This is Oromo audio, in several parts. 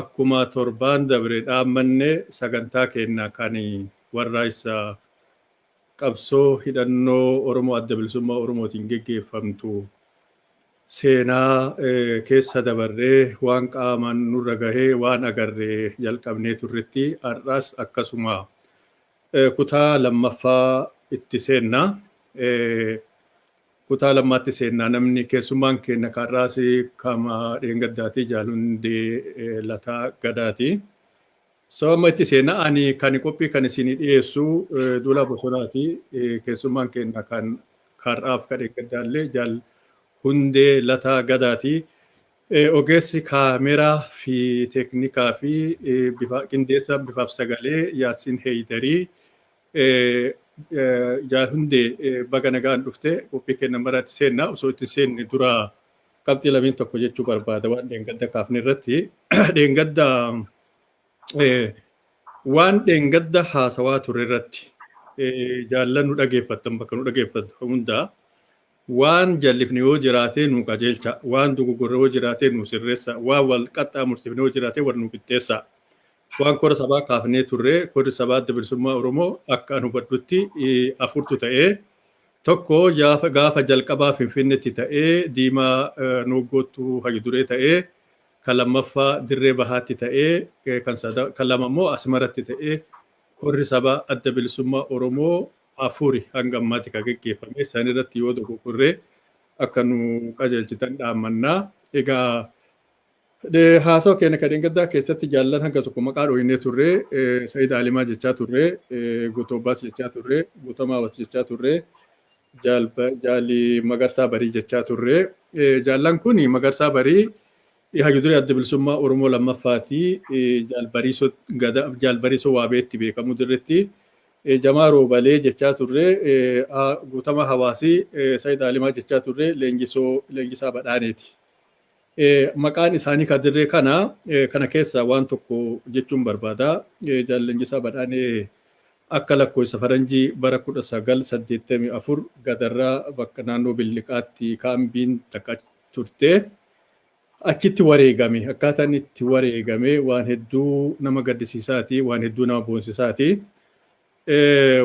Akkuma torbaan dabre dhaammanne sagantaa keenna kan warraaqsa qabsoo hidhannoo Oromoo Adda Bilisummaa Oromootiin geggeeffamtu seenaa keessa dabarree waan qaamaan nurra gahe waan agarre jalqabnee turretti har'as akkasuma Kutaa lammaffaa itti seenna. Kutaa lammaatti seenna namni keessummaan keenya kaarraas kama dheengaddaati jaalundee lataa gadaati. So amma itti seenna ani kan qophii kan isinii dhiyeessu duula bosonaati keessummaan keenya kan kaarraaf ka dheengaddaallee jaal hundee lataa gadaati. Ogeessi kaameeraa fi teeknikaa fi qindeessaa bifaaf sagalee Yaassin Heeydarii Jaal Hundee baga nagaan dhufte qophii keenya maraatti seenna osoo itti seenne dura qabxii lameen tokko jechuu barbaada waan dheengadda kaafne irratti dheengadda waan dheengadda haasawaa ture irratti jaallan nu dhageeffattan bakka nu dhageeffattu hundaa Waan jallifne yoo jiraatee nuu qajeelchaa, waan dogoggorre yoo jiraatee nuu sirreessaa, waan wal qaxxaamursiifne yoo jiraatee wal nuu qixxeessaa. Waan kora sabaa kaafnee turre korri sabaa Adda Bilisummaa Oromoo akka an hubadhutti afurtu ta'ee tokko gaafa jalqabaa Finfinnetti ta'ee Diimaa Nooggoottu hayyu duree ta'ee kan lammaffaa Dirree Bahaatti ta'ee kan lama immoo Asmaratti ta'ee korri sabaa Adda Bilisummaa Oromoo afuri hanga ammaati ka geggeeffame san irratti yoo dogoggorre akka nu qajeelchitan dhaammanna. Egaa haasawa keenya ka dheengaddaa keessatti jaallan hanga tokko maqaa dhooynee turre Sayid Alimaa jechaa turre Guutuu Abbaas jechaa turre Guutamaa Awas jechaa turre Jaali Magarsaa Barii jechaa turre jaallan kun Magarsaa Barii Hayyuduree Adda Bilisummaa Oromoo lammaffaati. Jaal Bariisoo Gadaa, Jaal Bariisoo Waabeetti beekamu dirretti. Jamaa Roobalee jechaa turre, Guutama Hawaasi, Sayid Alimaa jechaa turre, Leenjisoo Leenjisaa Badhaaneeti. Maqaan isaanii ka dirree kana, kana keessa waan tokko jechuun barbaada. Jaal Leenjisaa Badhaanee akka lakkoofsa faranjii bara 1984 gadarraa bakka naannoo Billiqaatti kaambiin takka turte. Achitti wareegame. Akkaataa inni itti wareegame waan hedduu nama gaddisiisaati, waan hedduu nama boonsisaati.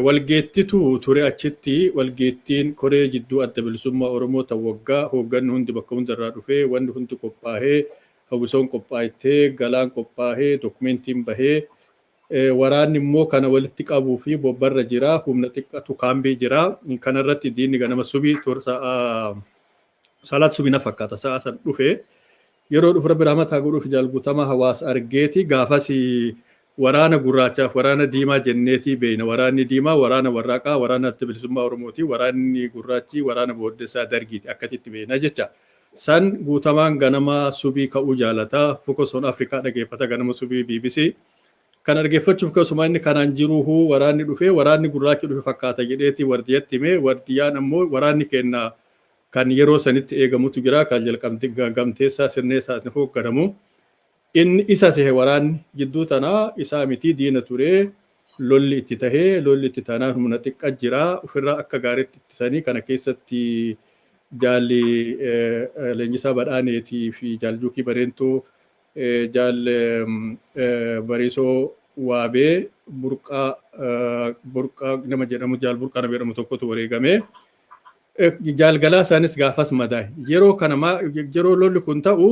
Walgeettitu ture achitti walgeettiin koree jidduu adda bilisummaa Oromoo ta waggaa hoogganni hundi bakka hundarraa dhufee wanni hundi qophaahee hawwisoon qophaa'ettee galaan qophaahee dookumentiin bahee waraanni immoo kana walitti qabuu fi bobbarra jira humna xiqqatu kaambii jira kanarratti diinni ganama subii tursa'a Salaat subii na fakkaata sa'a san dhufe yeroo dhufu rabbi rahmataa godhuuf jaal guutamaa hawaas argeeti gaafas waraana gurraachaaf waraana diimaa jenneetii beeyna waraanni diimaa waraana warraaqaa waraana adda bilisummaa oromooti waraanni gurraachii waraana booddessaa dargiiti akkasitti beeyna jecha san guutamaan ganama subii ka'uu jaalata focus on afrikaa dhageeffata ganama subii bbc kan argeeffachuuf keessumaa inni kanaan jiruuhu waraanni dhufe waraanni gurraachi dhufe fakkaata jedheeti wardiyatti hime wardiyaan ammoo waraanni keenna kan yeroo sanitti eegamutu jira, kan Gamteessaa Sirneessaatiin hoogganamu. Inni isa sehe waraanni. Jidduu tana isaa miti diina ture lolli itti tahe. Lolli itti taanaan humna xiqqa jira. Ufirraa akka gaariitti ittisanii kana keessatti Jaal Leenjisaa Badhaaneetii fi Jaal Juukii Bareentuu, Jaal Bariisoo Waabee, Burqaa Burqaa nama jedhamu Jaal Burqaa nama jedhamu tokkotu wareegame. Jaal Galaasaanis gaafas madaa'e. Yeroo kana maa yeroo lolli kun ta'u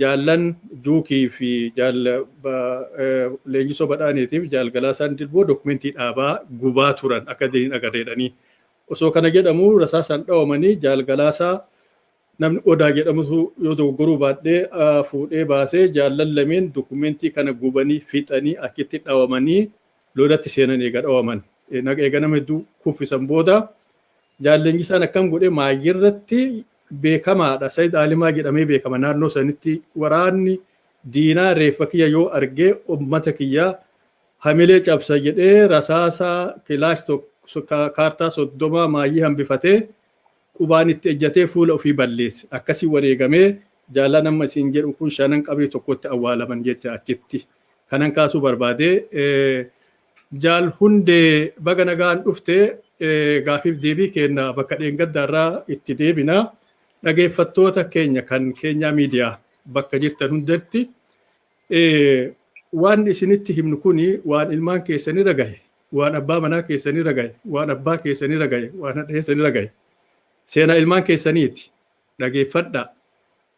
jaallan Juukii fi jaal Leenjisoo Badhaaniitiif jaal Galaasaan Dilboo dokumentii dhaabaa gubaa turan akka diriin agarreedhanii. Osoo kana jedhamu rasaasaan dhawamanii jaal Galaasaa namni Odaa jedhamutu yoo dogoggoruu baadhee fuudhee baasee jaallan lameen dokumentii kana gubanii fixanii achitti dhawamanii lolatti seenan eega dhawaman eega nama hedduu kuffisan booda jaal Leenjisaan akkam godhe maayyii irratti beekamaadha Sayid Aalimaa jedhamee beekama naannoo sanitti waraanni diinaa reeffa kiyya yoo argee ummata kiyya hamilee cabsa jedhee rasaasa kilaash kaartaa soddomaa maayyii hambifatee qubaan itti ejjatee fuula ofii balleesse. Akkasiin wareegamee jaallan amma isin jedhu kun shanan qabrii tokkotti awwaalaman jecha achitti. Kanan kaasuu barbaade Jaal Hundee baga nagaan dhufte gaafiif deebii keenna bakka dheengaddaarraa itti deebina. Dhageeffattoota keenya kan keenyaa miidiyaa bakka jirtan hundatti waan isinitti himnu kun waan ilmaan keessanirra gahe waan abbaa manaa keessanirra gaye, waan abbaa keessanirra gaye, waan hadha keessanirra gaye, seenaa ilmaan keessaniiti. Dhageeffadhaa.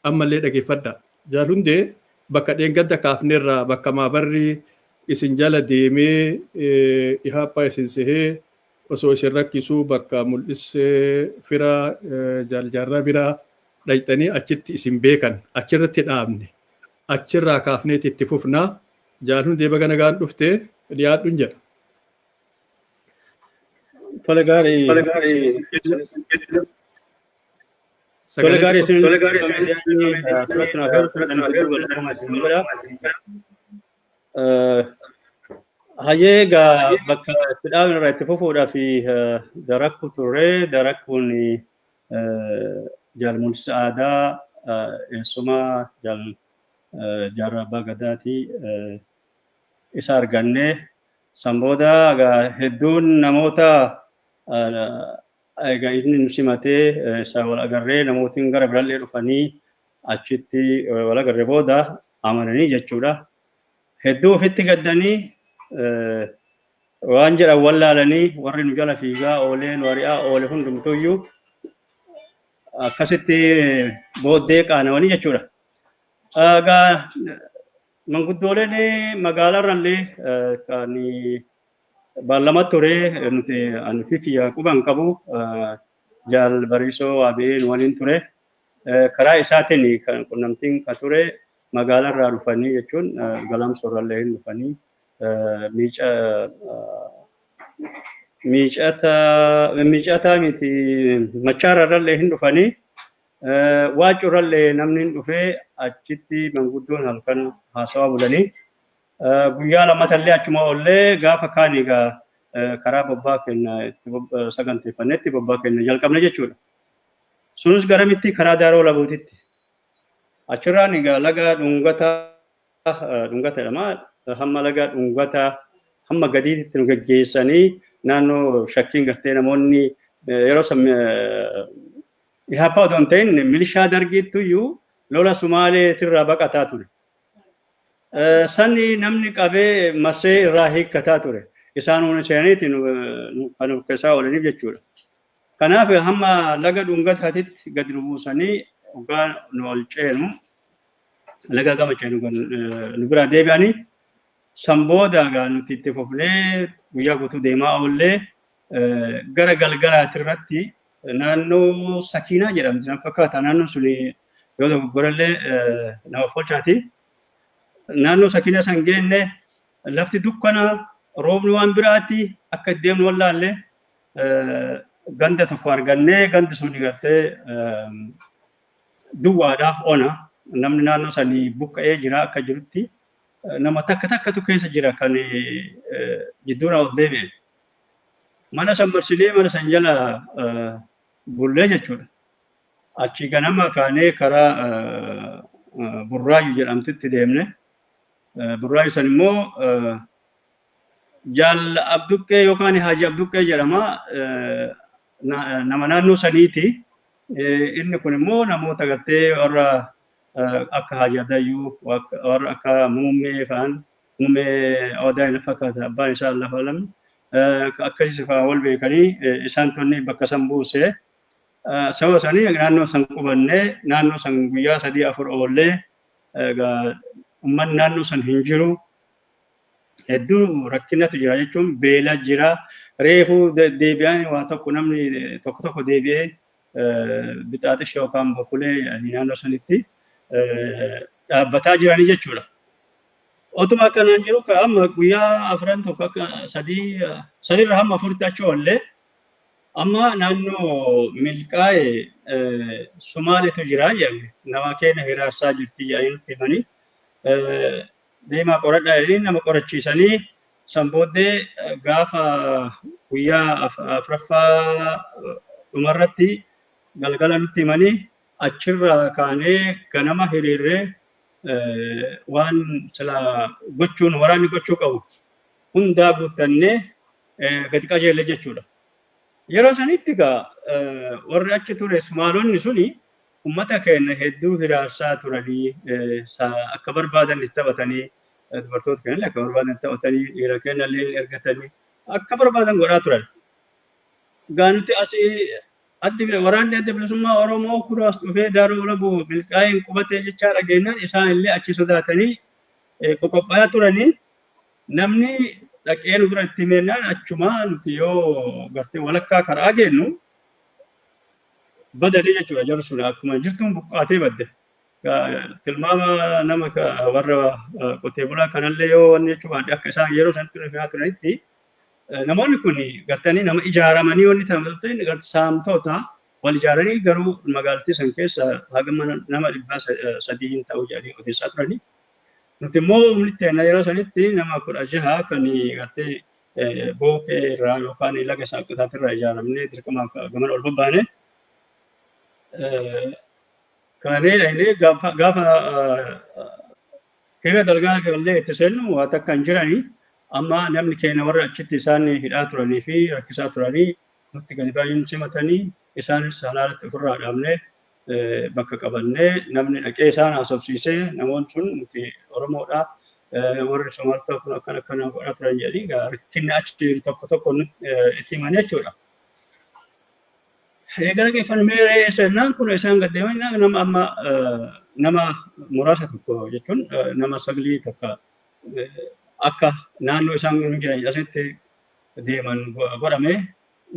Ammallee dhageeffadhaa. Jaal Hundee bakka dheengadda kaafnerraa bakka maabarri isin jala deemee ihaappaa isin sehee osoo isin rakkisuu bakka mul'issee fira jaal jaarraa biraa dhaqxanii achitti isin beekan achirratti dhaabne achirraa kaafneeti itti fufnaa Jaal hundee baga nagaan dhufte dhiyaadhu hin jedha. Tole gaarii. Tole gaarii. Tole gaarii isin tole gaarii isin yaadni turatti naaf yoo turatti naaf yoo turatti naaf isin godha. Hayyee egaa bakka itti dhaabne irraa itti fufuudhaaf darakku turre darakkuun jaalmuunsi aadaa eessuma jaal Jaarraa Abbaa Gadaati. Isa arganne. San booda egaa hedduun namoota egaa inni nu simatee isa wal agarree namootiin gara birallee dhufanii achitti wal agarre booda amananii jechuudha. Hedduu ofitti gaddanii waan jedhan wallaalanii warri nu jala fiigaa oolee nu ari'aa oole hundumtuyyuu akkasitti booddee qaanawanii jechuudha. Egaa manguddooleen magaalarrallee kan baallama ture nuti ani fi kiyya quban qabu jaal bariisoo waamee nu waliin ture. Karaa isaatiin kan qunnamtiin kan ture magaalarraa dhufanii jechuun galamsoorrallee hin dhufanii Miica miicata miicataa miti machaararrallee hin dhufanii waacurrallee namni hin dhufee achitti manguddoon halkan haasawaa bulanii guyyaa lamatallee achuma ollee gaafa kaan egaa karaa bobbaa kenna itti saganteeffannetti bobbaa kenna jalqabne jechuudha. Sunis garamitti karaa daaroo labuutitti. Achirraan egaa laga dhungataa dhungata jedhama. Hamma laga dhungata hamma gadiitti nu geggeessanii naannoo shakkiin gartee namoonni yeroo san Ihaappaa odoo hin ta'in milishaa dargiittu iyyuu lola Sumaaleetirraa baqataa ture. Sanni namni qabee marsee irraa hiikkataa ture. Isaan hundi seenaniiti kan of keessaa oolaniif jechuudha. Kanaaf hamma laga dhungataatitti gad nu buusanii dhugaa nu ol ceenu Nagaa gammachuu nu gon- eh, nu biraa deebi'anii san booda egaa nuti itti fufnee guyyaa guutuu deemaa oollee eh, gara galgalaati irratti naannoo sakiinaa jedhamti na fakkaata naannoon suni yoo dogoggorallee eh, nama folchaati. naannoo sakiinaa san geenne lafti dukkana roobni waan biraatti akka itti deemnu wallaalle eh, ganda tokko argannee gandi sun gartee eh, duwwaadha, ona. Namni naannoo sanii buqqa'ee jira akka jirutti nama takka takkatu keessa jira kan jidduudhaa ol deebi'e. Mana san marsinee mana san jala bullee jechuudha. Achi ganama kaanee karaa Burraayyuu jedhamtitti deemne. Burraayyuu san immoo Jaal Abduqqee yookaan Haaji Abduqqee jedhama. nama naannoo saniiti. Inni kun immoo namoota gartee warra akka Haji Adayyuu, warra akka Muummee fa'aan, Muummee Odaa na fakkaata abbaan isaa Allahu Alam. Akkasii fa'aa wal beekanii isaan tonni bakka san buuse. Sababa sanii naannoo san qubannee naannoo san guyyaa sadii afur oollee uummanni naannoo san hin jiru. hedduu rakkinatu jira jechuun beela jira reefuu deebi'an waa tokko namni tokko tokko deebi'ee bixaaxisha yookaan bokulee naannoo sanitti dhaabbataa jiranii jechuudha. Otuma akkanaan jiru ka amma guyyaa afran tokko akka sadii sadiirra hamma afuritti achi oollee amma naannoo milkaa'e Somaaleetu jira jedhame nama keenya hiraarsaa jirti jedhanii nutti himanii deemaa qoradhaa jedhanii nama qorachiisanii san booddee gaafa guyyaa afraffaa dhumarratti galgala nutti himanii achirraa kaanee ganama hiriirree waan sila gochuun waraanni gochuu qabu hundaa guuttannee gadi qajeelle jechuudha. Yeroo sanitti egaa warri achi ture Sumaalonni suni Ummata keenna hedduu hiraarsaa turanii, sa akka barbaadan itti taphatanii, dubartoota keennallee akka barbaadan itti taphatanii, dhiira keennallee hin ergatanii, akka barbaadan godhaa turan. Egaa nuti asii addi waraanni adda bilisummaa Oromoo kunoo as dhufee Daaroo Walaboo milkaa'een qubatee jechaa dhageennaan isaanillee achi sodaatanii qoqopha'aa turanii namni dhaqee nu bira itti himeennaan achumaa nuti yoo gartee walakkaa karaa geennu badate jechuudha jarri sun akkuma jirtuun buqqaatee badde. Tilmaama nama warra qotee bulaa kanallee yoo wanni jechuu baadde akka isaan yeroo sanatti rifaa turanitti namoonni kun gartanii nama ijaaramanii wanni ta'an saamtoota wal ijaaranii garuu magaalattii san keessa haga nama dhibbaa sadii hin ta'u jedhanii odeessaa turanii. Nuti immoo umritti yeroo sanitti nama kudha jaha kan gartee booqee irraa yookaan laga shaaqqisaati irraa ijaaramnee dirqamaaf gamana ol babbaane. Kaanee dhaynee gaafa gaafa hira dalgaa gallee itti seennu waa takka hin jiranii amma namni keenya warra achitti isaan hidhaa turanii fi rakkisaa turanii nutti gadi baay'een simatanii isaanis halaalatti ofirraa dhaabnee bakka qabannee namni dhaqee isaan haasofsiisee namoonni sun nuti Oromoodha warri Somaaltaa kun akkana akkana godhaa turan jedhanii egaa rakkinni achi jiru tokko tokko nu- eh, itti himan jechuudha. Eh, Gara geeffan meeree seenaan kun isaan gad deeman jennaan nama amma eh, nama muraasa tokko jechuun eh, nama saglii takka eh, akka naannoo isaan jiran asitti deeman go- godhamee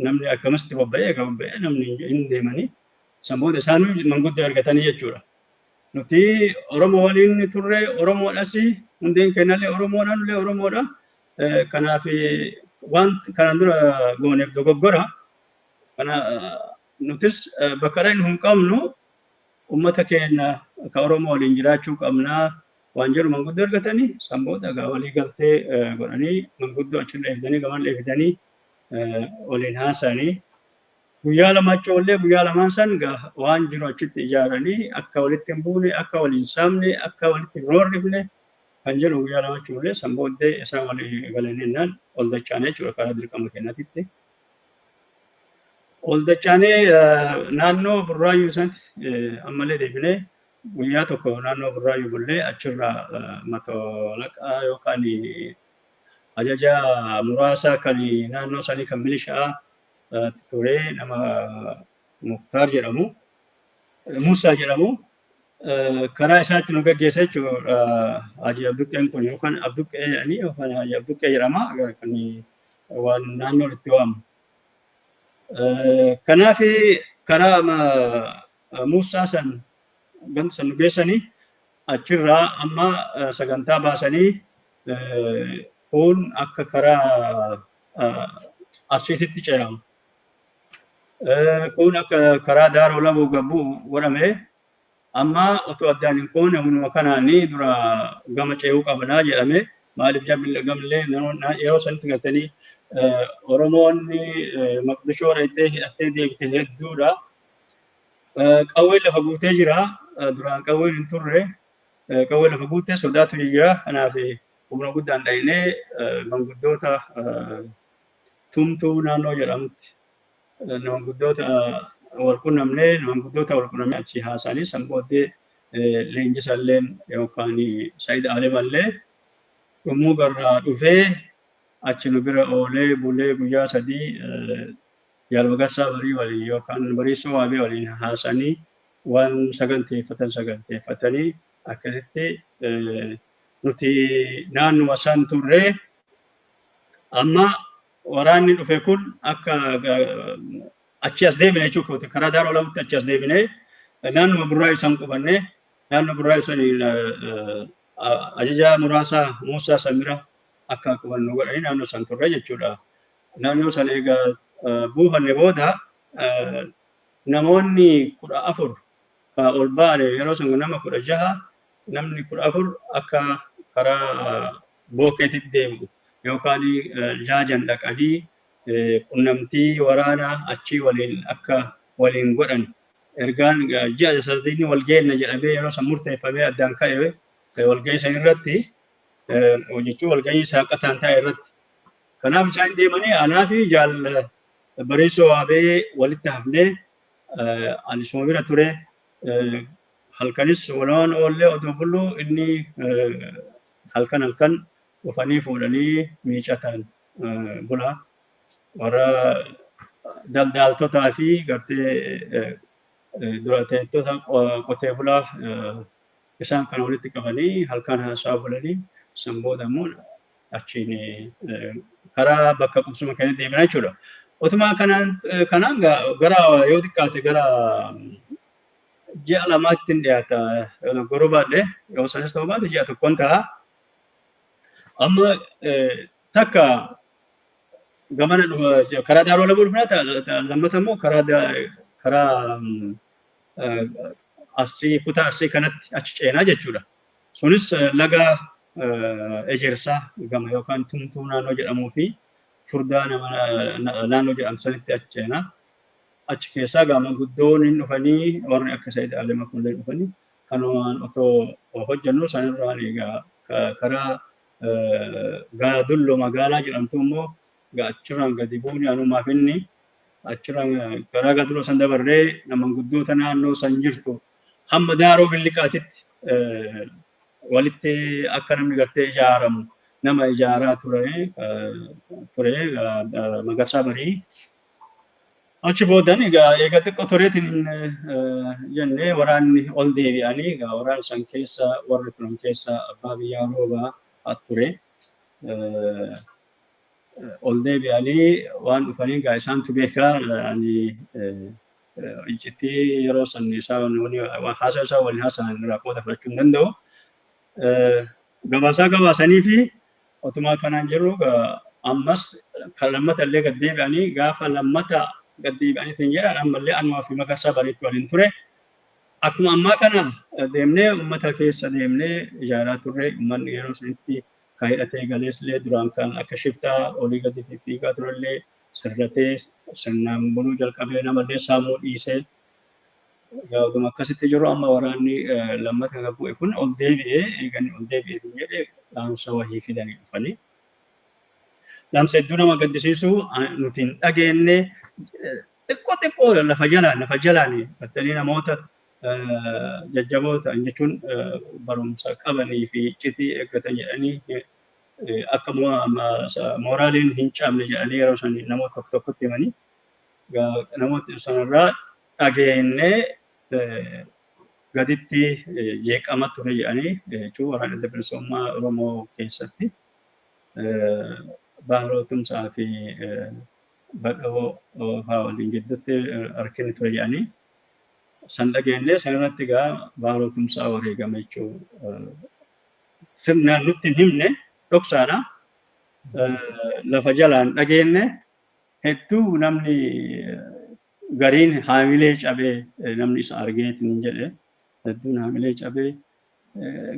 namni akkamitti bobba'ee egaa bobba'ee namni hin deemanii San booda isaanuu manguddoo ergatanii jechuudha. Nuti Oromoo waliin turre Oromoodhas hundeen keenyallee Oromoodha nullee Oromoodha. Kanaaf waan kanaan dura gooneef dogoggora. Kana nutis bakka dhaqnu hin qabnu uummata keenya kan Oromoo waliin jiraachuu qabna waan jedhu manguddoo ergatanii san booda egaa walii galtee godhanii manguddoo achirra eegdanii gamallee fidanii waliin haasa'anii Guyyaa lama achi oollee guyyaa lamaan san waan jiru achitti ijaaranii akka walitti hin buune, akka waliin saamne, akka walitti hin hoorrifne kan jedhu guyyaa lama achi oollee san booddee isaan walii galanii jennaan ol dachaane jechuudha karaa dirqama keenyaatitti. Ol dachaanee naannoo burraayyuu sanatti ammallee deebinee guyyaa tokko naannoo burraayyuu bullee achirraa matolaqaa yookaan ajajaa muraasaa kan naannoo sanii kan milishaa ture nama Muktaar jedhamu Muusaa jedhamu karaa isaatti nu gaggeessa jechuudha Haji Abduqqeen kun yookaan Abduqqee jedhanii yookaan Haji Abduqqee jedhama kan waan naannoo itti waamu. Kanaaf karaa Muusaa san ganda san nu geessanii achirraa amma sagantaa baasanii kun akka karaa Arsiititti ce'amu. Kun akka karaa Daaroo Labuu gabu godhame. Amma otoo addaan hin kuune humnuma kanaan dura gama ce'uu qabnaa jedhame. Maaliif jarri gamillee yeroo sanitti galtanii Oromoon Maqdishoo dhaqxee hidhattee deebite hedduudha. Qawween lafa guutee jira. Duraan qawween hin turre. Qawween lafa guutee sodaatu jira. Kanaaf Humna guddaan dhaynee manguddoota Tumtuu naannoo jedhamutti manguddoota wal qunnamnee manguddoota wal qunnamnee achi haasa'anii san booddee leenjisalleen yookaan Said Alimallee dhumuu garraa dhufee achi nu bira oolee bulee guyyaa sadii Jaal Magarsaa Barii waliin yookaan Bariisoo Waabee waliin haasa'anii waan saganteeffatan saganteeffatanii akkasitti Nuti naannuma san turre. Amma waraanni dhufe kun akka achi as deebine jechuu kooti. Karaa Daaroo Lamutti achi as deebine naannuma Burraayu san qubanne. Naannoo Burraayu san ajajaa muraasaa Muusaa Samira akka qubannu godhanii naannoo san turre jechuudha. Naannoo san egaa buufanne booda namoonni kudha afur ka ol baane yeroo san nama kudha jaha namni 14 akka karaa Bookeetit deemu yookaan Jaajan dhaqanii qunnamtii waraanaa achii waliin akka waliin godhan ergaan ji'a sadii wal geenna jedhamee yeroo san murteeffamee addaan ka'e walgahii san irratti jechuun walgahii saaqataan taa'e irratti kanaaf isaan deemanii anaa fi jaal bareessoo waabee walitti hafnee anis bira ture halkanis walumaan oollee odoo bullu inni halkan halkan dhufanii fuudhanii miicataan bula. Warra daldaaltotaa fi gartee dura teettota qotee bulaa Isaan kana walitti qabanii halkaan haasa'aa bulani. San booda immoo achiin karaa bakka qubsuma keenya deemina jechuudha. Utuma kanaan kanaan gara yoo xiqqaate gara ji'a lamaatti hin dhiyaata yoo dogoggoruu baadhe yoo sanis ta'uu baate ji'a tokkoon ta'a. Amma takka gamana karaa daaroo lamuu dhufna lammata immoo karaa karaa Arsii kutaa Arsii kanatti achi ceenaa jechuudha. Sunis laga ejersaa gama yookaan tumtuu naannoo jedhamuu fi furdaa naannoo jedhamu sanitti achi ceenaa. Achi keessaa gaama guddoon hin dhufanii warri akka Said Ali Makuullee dhufanii kanumaan otoo hojjennu sanirraan egaa karaa gaadullo magaalaa jedhamtu immoo achirraan gadi buune anumaaf inni achirraa garaa gadroo san dabarree namanguddoota naannoo san jirtu hamma daaroo billiqaatitti walitti akka namni gartee ijaaramu nama ijaaraa ture ture magarsaa barii achi boodan egaa eega xiqqoo tureetiin jennee waraanni ol deebi'anii egaa waraan san keessa warri turan keessa abbaa biyyaa roobaa ture. ol deebi'anii waan dhufanii egaa isaantu beeka ani iccitii yeroo san isaan haasaa isaa waliin haasa'an irraa qooda fudhachuu hin danda'u. Gabaasaa gabaasanii fi otumaa kanaan jirru ammas kan lammata illee gad deebi'anii gaafa lammata gad deebi'anii isin jedhan ammallee anumaa fi magarsaa bariitti waliin ture. Akkuma ammaa kana deemnee uummata keessa deemnee ijaaraa turre uummanni yeroo sanitti ka hidhatee galees'llee duraan kan akka shiftaa olii gadi fiffiigaa ture'llee sirratee sirnaan buluu jalqabee nama'llee saamuu dhiisee egaa oduma akkasitti jiru amma waraanni lammata ka bu'e kun ol deebi'ee eega inni ol deebi'ee hin jedhe dhaamsa wahii fidanii dhufanii dhaamsa hedduu nama gaddisiisu nuti hin dhageenne xiqqoo xiqqoo lafa jalaan lafa jalaan battanii namoota jajjaboo ta'an jechuun barumsa qabanii fi iccitii eeggatan jedhanii akka mooraaliin hin cabne jedhanii yeroo san namoota tokko tokkotti himanii namoota sanarraa dhageennee gaditti jeeqama ture jedhanii jechuun waraana adda bilisummaa Oromoo keessatti baaroo tumsaa fi badhoo fa'aa waliin gidduutti harkinni ture jedhanii san dhageenyee san irratti egaa Baaroo Tumsaa wareegame jechuu sirnaan nutti hin himne dhoksaadha. Lafa jalaan dhageenye hedduu namni gariin haamilee cabee namni isa argeetiin jedhe hedduun haamilee cabee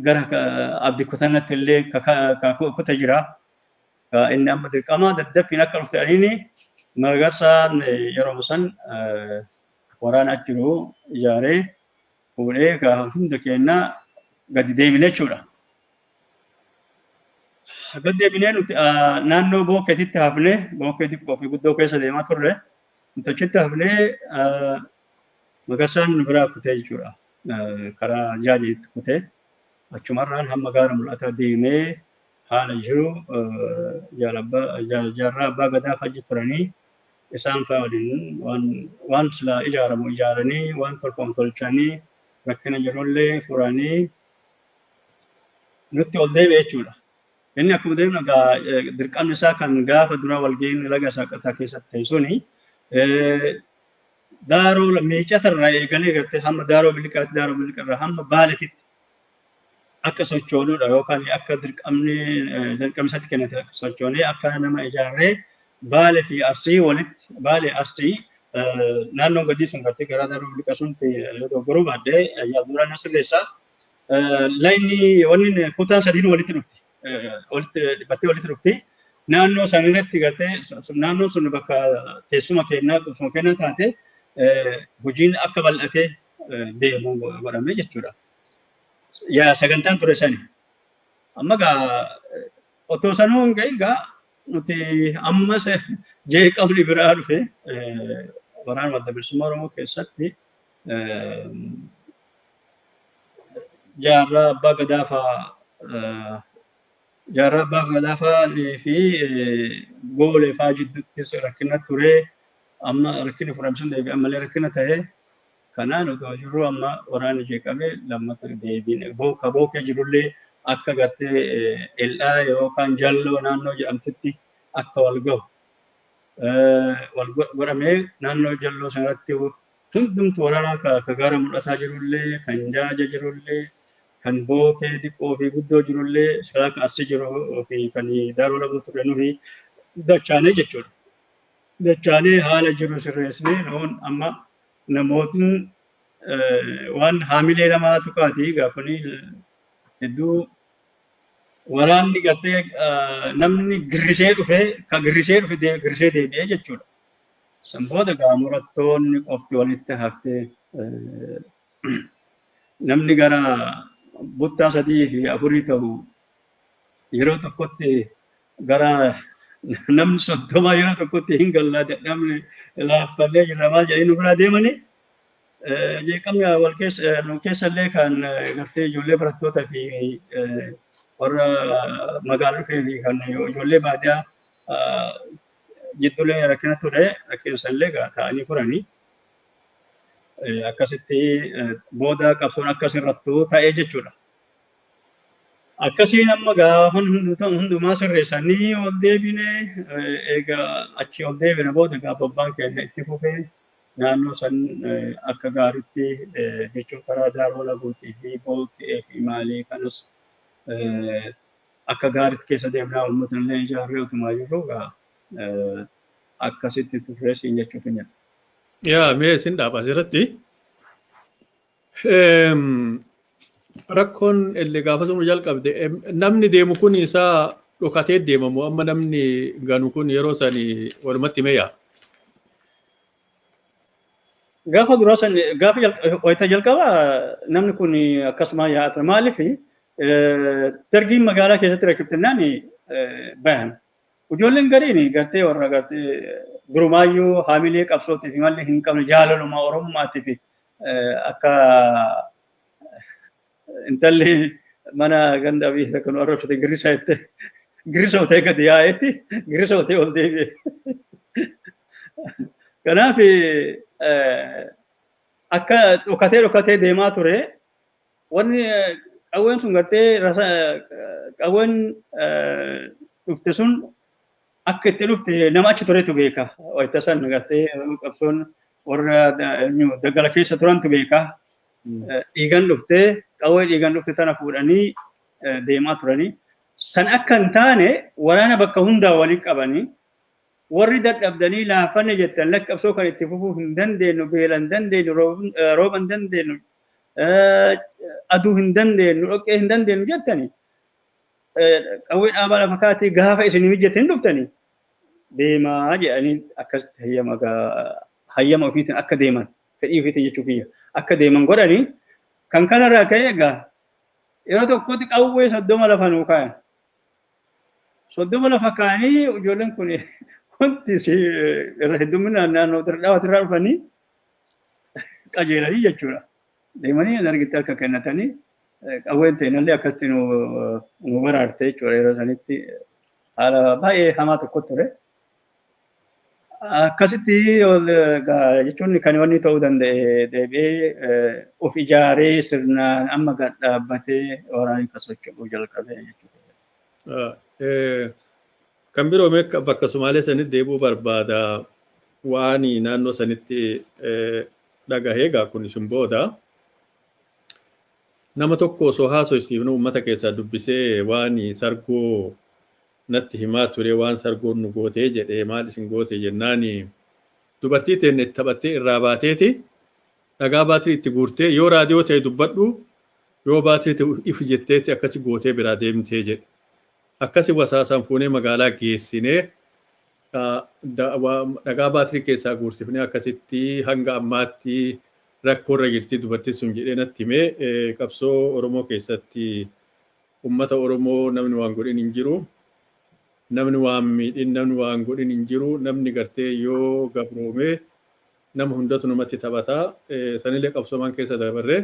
gara abdi kutannatti illee kuta jira. Inni amma dirqama daddaffiin akka dhufte dhaniini Magarsaan yeroo san waraana achi jiru ijaaree fuudhee gaa hunda keenya gadi deebine jechuudha. Gadi deebinee nuti naannoo bookkeetitti hafnee bookkeetti qophii guddoo keessa deemaa turre nuti achitti hafnee Magarsaan nu biraa kutee jechuudha. Karaa jaajiitti kutee achumarraan hamma gaara mul'ataa deemee haala jiru jaal abbaa jaal jaarraa abbaa gadaa fajji turanii isaan faa waliin waan waan silaa ijaaramu ijaaranii waan tolfamu tolchanii rakkina jirullee furanii nutti ol deebi'e jechuudha. Inni akkuma deemnu egaa eh, dirqamni isaa kan gaafa dura walga'iin laga saaqataa keessatti ta'e suni eh, daaroo miicata irraa eegalee gartee hamma daaroo biliqaatti daaroo biliqa irraa hamma baaleetitti akka sochoonudha yookaan akka dirqamni dirqamsatti kennate sochoonee akka nama ijaarree baale fi arsii walitti baale arsii naannoo gadii sun irratti gara daruu liqasuun yoo dogoggoruu baadde yaaduraan na sirreessa. Laayinni wanni kutaan sadiin walitti dhufti. Walitti dhibbattee walitti dhufti. Naannoo san irratti gartee naannoon sun bakka teessuma kennaa qubsuma kennaa taate hojiin akka bal'atee deemu godhamee jechuudha. yaa sagantaan ture sani. Amma gaa otoo sanuu hin gahin gaa nuti ammas jeeqamni biraa dhufe waraana wadda bilisummaa Oromoo keessatti jaarraa abbaa gadaa fa'aa jaarraa abbaa gadaa fa'aa fi goolee fa'aa jidduuttis rakkina ture amma rakkinni furame sun deebi'e ammallee rakkina ta'e. Kanaan otoo jirruu amma waraanni ishee qabee lammata deebiin ka Bookee jirullee akka gartee El'aa yookaan Jalloo naannoo jedhamtutti akka wal gahu wal godhamee naannoo Jalloo sanarratti hundumtu waraanaa ka Gaara Mul'ataa jirullee, kan Jaaja jirullee, kan Bookee diqqoo fi guddoo jirullee silaa ka Arsii jiruu fi kan Daaroo Labuu turre nuhi dachaanee jechuudha. Dachaanee haala jiru sirreessinee nuun amma Namootni waan haamilee namaa tuqaati gaafanii hedduu waraanni gartee namni girrisee dhufe ka girrisee dhufe girrisee deebi'ee jechuudha. San booda gaa murattoonni qofti walitti haftee namni gara buttaa sadii fi afurii ta'u yeroo tokkotti gara namni soddomaa yeroo tokkotti hin gallaa dadhabne laaffannee jirra maal jedhanii nu biraa deemanii jeeqamni wal keessa nu keessallee kan gartee ijoollee barattoota fi warra magaalaa dhufee fi kan ijoollee baadiyaa jidduulee rakkina ture rakkina sanillee taa'anii furanii akkasitti booda qabsoon akkas irrattu ta'ee jechuudha. Akkasiin amma gaafan hundumaa sirreessanii ol deebine egaa achi ol deebine booda egaa abbaan keenya itti fufee naannoo san akka gaariitti jechuun karaa daaroo laguutii fi booqqee fi maalii kanas akka gaariitti keessa deemnaa uummata illee ijaarree utumaa jirru egaa akkasitti turree siin jechuuf hin jedhu. Yaa mee isin dhaaba asirratti Rakkoon illee gaafa sun jalqabde namni deemu kun isaa dhokatee deemamu amma namni ganu kun yeroo san walumatti meeyaa. Gaafa duraa san gaafa wayita jalqaba namni kun akkasuma yaa'aa ture maaliif dargiin magaalaa keessatti rakkiftannaan bayan. Ijoolleen gariin gartee warra gartee durumaayyuu haamilee qabsootii fi malli hin qabne jaalaluma oromummaatiif Akka intalli mana ganda abiyyi takka nu arrabsite girrisa jette girrisa utee gadi yaa'etti girrisa utee ol deebi'e. Kanaaf akka dhokatee dhokatee deemaa ture wanni qawween sun gartee qawween dhufte sun akka itti dhufte nama achi turetu beeka. Wayita san gartee qabsoon warra daggala keessa turantu beeka. Dhiigan dhufte qawwee dhiigan dhufte tana fuudhanii deemaa turanii. San akka hin taane waraana bakka hundaa waliin qabanii warri dadhabdanii laafanne jettan lakki qabsoo kan itti fufuu hin dandeenyu beela hin dandeenyu rooba hin dandeenyu aduu hin dandeenyu dhoqqee hin dandeenyu jettanii qawwee dhaabaa lafa kaatee gaafa isin mijjate hin dhuftanii deemaa jedhanii akkasitti hayyama hayyama ofiitiin akka deeman fedhii ofiitiin jechuu kiyya akka deeman godhanii kan kanarraa ka'e egaa yeroo tokkotti qawwee soddoma lafa nuu kaayan. Soddoma lafa kaayanii ijoolleen kun wanti irra hedduminaan naannoo Dirree Dhawaatirraa dhufanii qajeelanii jechuudha. deemanii dargitti harka kennatanii qawween teenallee akkatti nu nu baraarte jechuudha yeroo sanitti haala baay'ee hamaa tokko ture. Akkasitti ol gaa- jechuun kan wanni ta'uu danda'e deebi'ee eh, of ijaaree sirnaan amma gad dhaabbatee waraanni kan socho'uu jalqabe jechuudha. Ah, eh, Kan biroo mee akka- bakka Sumaalee sanitti deebi'uu barbaada waan naannoo sanitti eh, dhagahee gaa kun isin booda nama tokko osoo haasoysiifnu uummata keessaa dubbisee waan sargoo natti himaa ture waan sargoon nu gootee jedhee maal isin goote jennaan dubartii teenne itti taphattee irraa baateeti dhagaa baatirii itti guurtee yoo raadiyoo ta'e dubbadhu yoo baatirii ta'e if jetteeti akkasi gootee biraa deemtee jedhe Akkasi wasaasaan fuunee magaalaa geessine. Dhagaa baatirii keessaa guursifnee akkasitti hanga ammaatti rakkoorra jirti dubartin sun jedhee natti hime. Qabsoo Oromoo keessatti ummata Oromoo namni waan godhin hin jiru. Namni waan miidhin, namni waan godhin hin jiru. Namni gartee yoo gabroome nama hundatu namatti taphata. Sanillee qabsoomaan keessa dabarre.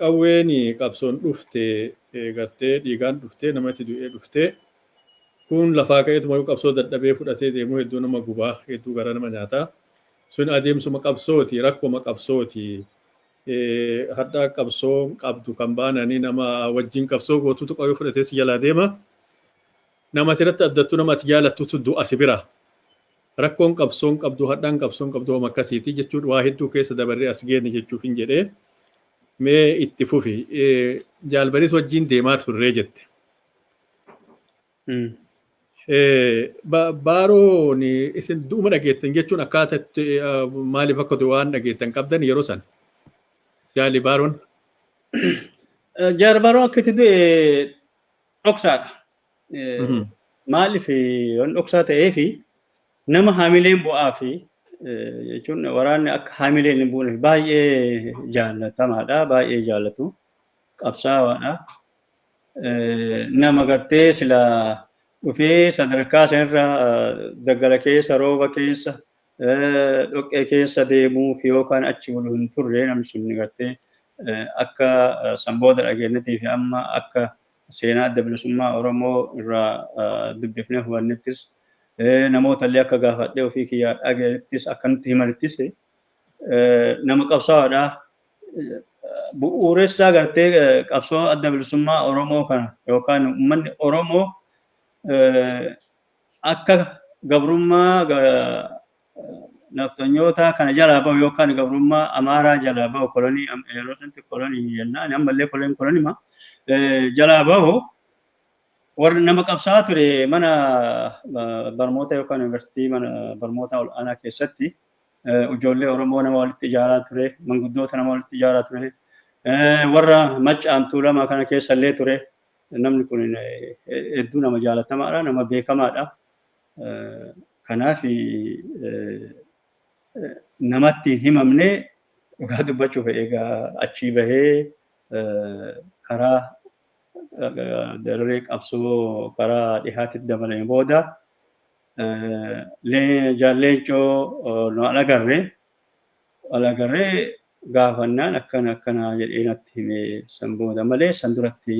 Qawween qabsoon dhufte gartee dhiigaan dhufte nama itti du'ee dhufte kun lafaa ka'eetumayyuu qabsoo dadhabee fudhatee deemuu hedduu nama guba hedduu garaa nama nyaata sun adeemsuma qabsooti rakkoma qabsooti hadhaa qabsoo qabdu kan baananii nama wajjin qabsoo gootutu qawwee fudhatee si jalaa deema nama ati irratti addattu nama ati jaalattutu du'a si bira Rakkoon qabsoon qabdu hadhaan qabsoon qabdu homa akkasiiti jechuun waa hedduu keessa dabarree as geenne jechuufin jedhee mee itti fufi jaal bariis wajjiin deemaa turree jette. Baaroon isin du'uma dhageettan jechuun akkaataa itti maaliif akka ta'e waan dhageettan qabdan yeroo san jaali baaroon. Jaal baaroon akka itti du'e dhoksaadha. Maaliif waan dhoksaa ta'eef nama haamileen bu'aa fi jechuun waraanni akka haamileen hin buune baay'ee jaallatamaadha baay'ee jaallatu qabsaawaadha. Nama gartee sila dhufee sadarkaa sanarra daggala keessa rooba keessa dhoqqee keessa deemuuf yookaan achi bulu hin turre namni sun gartee akka san booda dhageenyatiif amma akka seenaa adda bilisummaa Oromoo irraa dubbifnee hubannettis namoota illee akka gaafadhee ofii kiyyaa dhageenyattis akka nutti himanittis nama qabsaa'aadha. Bu'uuressaa gartee qabsoo adda bilisummaa Oromoo kana yookaan uummanni Oromoo akka gabrummaa nafxanyootaa kana jalaa bahu yookaan gabrummaa amaaraa jalaa bahu kolonii yeroo sanatti kolonii jennaan ammallee koloniin kolonima jalaa bahu warri nama qabsaa ture mana barmoota yookaan yuunivarsiitii mana barmoota ol'aanaa keessatti ijoollee Oromoo nama walitti ijaaraa ture manguddoota nama walitti ijaaraa ture warra maccaan tuulamaa kana keessa illee ture Namni kun hedduu nama jaalatamaadha, nama beekamaadha. Kanaaf namatti hin himamne dhugaa dubbachuuf egaa achii bahee karaa dararee qabsoo karaa dhihaatti dabalame booda jaalleechoo nu alagarre walagarree gaafannaan akkana akkana jedhee natti hime san booda malee san duratti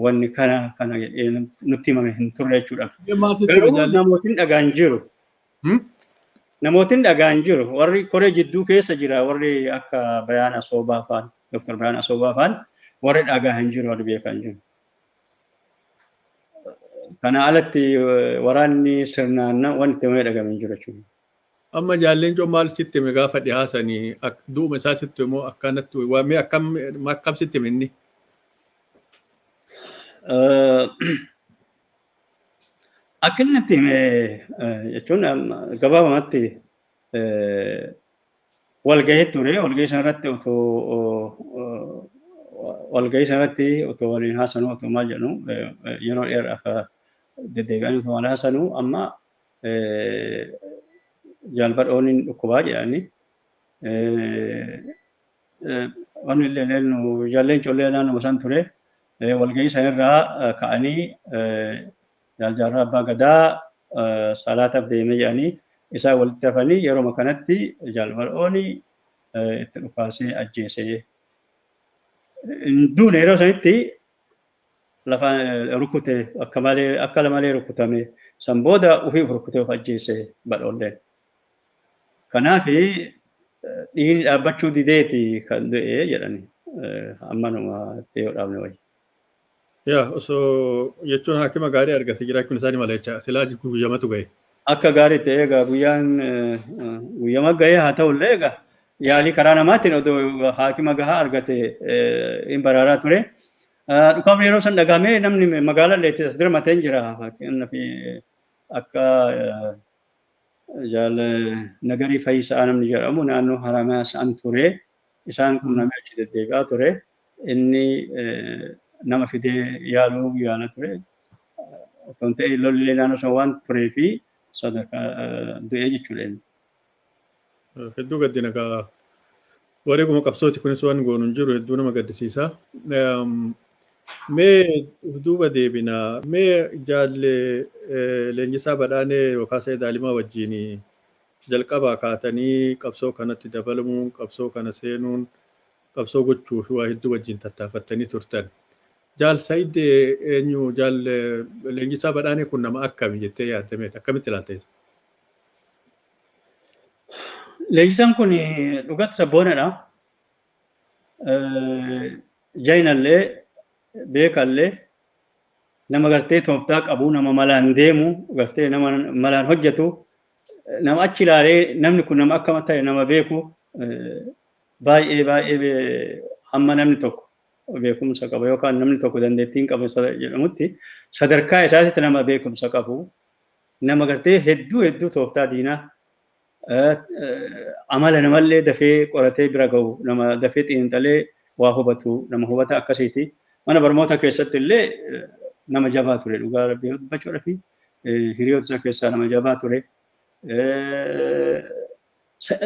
wanni kana kana jedhee nutti himame hin turre jechuudha. Garuu namootiin dhagaan jiru. Namootiin dhagaan jiru warri koree jidduu keessa jira warri akka Bayaan Asoobaa faan Dr. Bayaan Asoobaa faan warri dhagaa hin jiru warri beekan jiru. Kana alatti waraanni sirnaan wanti malee dhagame hin jiru jechuudha. Amma jaal leencoo maal sitti hime gaafa dhihaa sani ak- du'uma isaa sitti himoo akkanatti waa mee akkam akkam sitti hime inni? Eh, Akka inni itti hime eh, jechuun amma gabaabumatti eh, walgahii ture walgahii sanarratti otoo eh, walgahii sanarratti otoo waliin haasanu otoo maal jedhu eh, eh, yeroo dheeraaf eh, deddeebi'anii otoo waliin haasanu amma jaalbadhoon hin dhukkubaa jedhani. Wanni illee nu ijoolleen ijoollee naannoo san ture walgahii san irraa ka'anii jaaljaarraa abbaa gadaa salaataaf deemee jedhanii isaa walitti hafanii yeroo kanatti jaalbadhoon itti dhukaasee ajjeesee hin duune yeroo sanitti lafa rukute akka malee akka lamalee rukutame san booda ofii of rukutee of ajjeese badhoolleen. Kanaaf dhiigni dhaabbachuu dideeti kan du'e jedhani ammanuma itti yoo dhaabne wayya. Yaa osoo jechuun haakima gaarii argate jiraachuun isaanii mala jecha silaa guyyamatu gahe. Akka gaariitti egaa guyyaan guyyama gahee haa ta'ullee egaa yaalii karaa namaatiin odoo haakima gahaa argate hin baraaraa ture. Dhukaafni yeroo san dhagahamee namni magaalaa illee as dirmatee hin jira. Fakkeenyaaf akka jaal nagarii fayyisaa namni jedhamu naannoo Haramayaa san ture. Isaan qunnamee achi deddeebi'aa ture. Inni nama fidee yaaluu yaala ture. Otoo hin ta'in lolli naannoo sana waan turee fi sadarkaa du'ee jechuudha inni. Hedduu gaddina kaa wareeguma qabsooti kunis waan goonu hin jiru hedduu nama gaddisiisa. Mee duuba deebina mee jaalle leenjisaa badhaanee yookaan sa'ee daalimaa wajjin jalqabaa kaatanii qabsoo kanatti dabalamuun qabsoo kana seenuun qabsoo gochuuf waa hedduu wajjin tattaafattanii turtan. Jaal Said eenyu jaal leenjisaa badhaanee kun nama akkami jettee yaadda meeta akkamitti ilaalta isa? Leenjisaan kun dhugatti sabboonadha. Jainallee beekallee nama gartee tooftaa qabu nama malaan deemu gartee nama malaan hojjetu nama achi ilaalee namni kun nama akkam ta'e nama beeku Baay'ee baay'ee hamma namni tokko beekumsa qabu yookaan namni tokko dandeettiin qabu jedhamutti sadarkaa isaasitti nama beekumsa qabu nama gartee hedduu hedduu tooftaa diinaa amala namallee dafee qoratee bira gahu nama dafee xiinxalee waa hubatu nama hubata akkasiiti mana barmoota keessatti illee nama jabaa ture dhugaa rabbii dubbachuudhaaf hiriyoota isaa keessaa nama jabaa ture